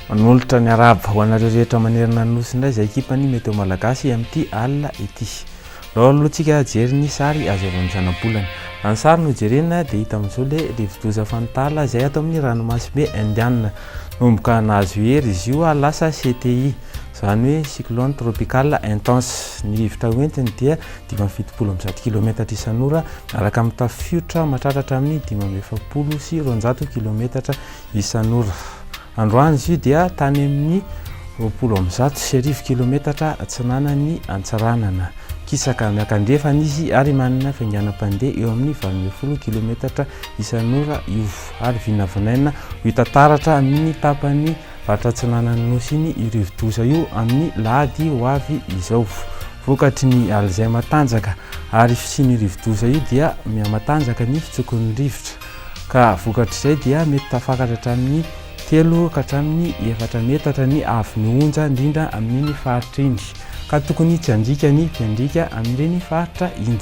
manolotra ny araba ho anareo rehetra manerana ny nosy indray izay ekipany mety ho malagasy amin'ity alina ity Raha alohantsika hijery ny sary azo avy amin'ny zanabolana. Raha ny sary no jerena dia hita amin'izao ilay rivodoza Fantala izay ato amin'ny ranomasimbe Indiana. Nanomboka nahazo hery izy io ary lasa CTI, izany hoe Cyclone Tropical Intense. Ny rivotra hoentiny dia dimy amby fitopolo amby zato kilometatra isan'ora miaraka amin'ny tafiotra matratratra amin'ny dimy amby efapolo sy roanjato kilometatra isan'ora. Androany izy io dia tany amin'ny roapolo amby zato sy arivo kilometatra atsinanan'i Antsiranana. Kisaka miankandrefana izy ary manana fainganam-pandeha eo amin'ny valo ambin'ny folo kilometatra isan'ora io ary vinavinaina ho hita taratra amin'ny tapany faritra atsinanan'ny nosy iny io rivodoza io amin'ny lahady ho avy izao. Vokatry ny alizay matanjaka ary fisian'io rivodoza io dia mihamatanjaka ny fitsokon'ny rivotra. ka vokatr'izay dia mety tafakatra hatramin'ny telo ka hatramin'ny efatra metatra ny haavon'ny onja indrindra amin'iny faritra iny ka tokony tsy handriaka ny mpiandriaka amin'ireny faritra iny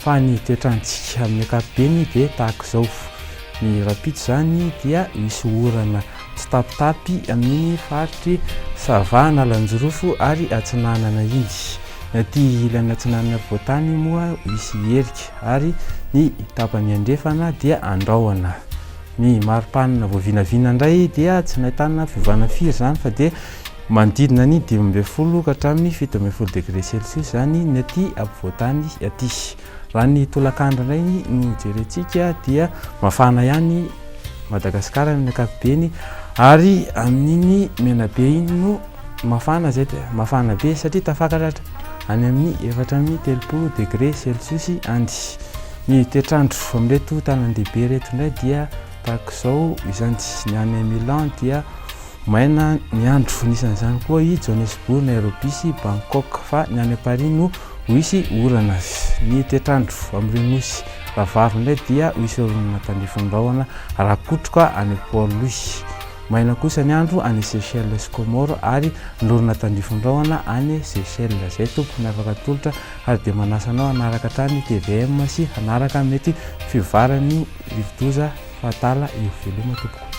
fa ny toetrantsika amin'ny ankapobeny dia tahaka izao ny rapito izany dia misy orana tsitapitapy amin'iny faritry sava analanjirofo ary atsinanana iny ny aty ilany atsinanana voatany moa misy herika ary ny tapany andrefana dia andrahona. Ny mari-panina voavinavina indray dia tsy nahitana fiovana firy izany fa dia manodidina ny dimy ambin'ny folo ka hatramin'ny fito ambin'ny folo degré celsius izany ny aty ampovoan-tany aty. Raha ny tolakandro indray no jerentsika dia mafana ihany Madagasikara amin'ny ankapobeny ary amin'iny Menabe iny no Mafana izay dia mafana be satria tafakaratra any amin'ny efatra amby telopolo degre selsosy any. Ny toetr'andro amin'ireto tanàndehibe ireto indray dia tahaka izao izany. Ny any Milan dia maina ny andro, nisan'izany koa i Johannesburg, Nairobi sy Bangkok, fa ny any Paris no ho hisy orana. Ny toetr'andro amin'ireo nosy rahavavy indray dia ho hisy oronana tandrifin-drahona rakotroka any Port Louis. Maina kosa ny andro any Seychelles sy Comores ary lorona tandrify rahona any Seychelles. Zay tompoko miavaka atolotra ary dia manasa anao hanaraka hatrany tvm sy hanaraka mety fivovaran'io rivodoza fahatala io. Veloma tompoko.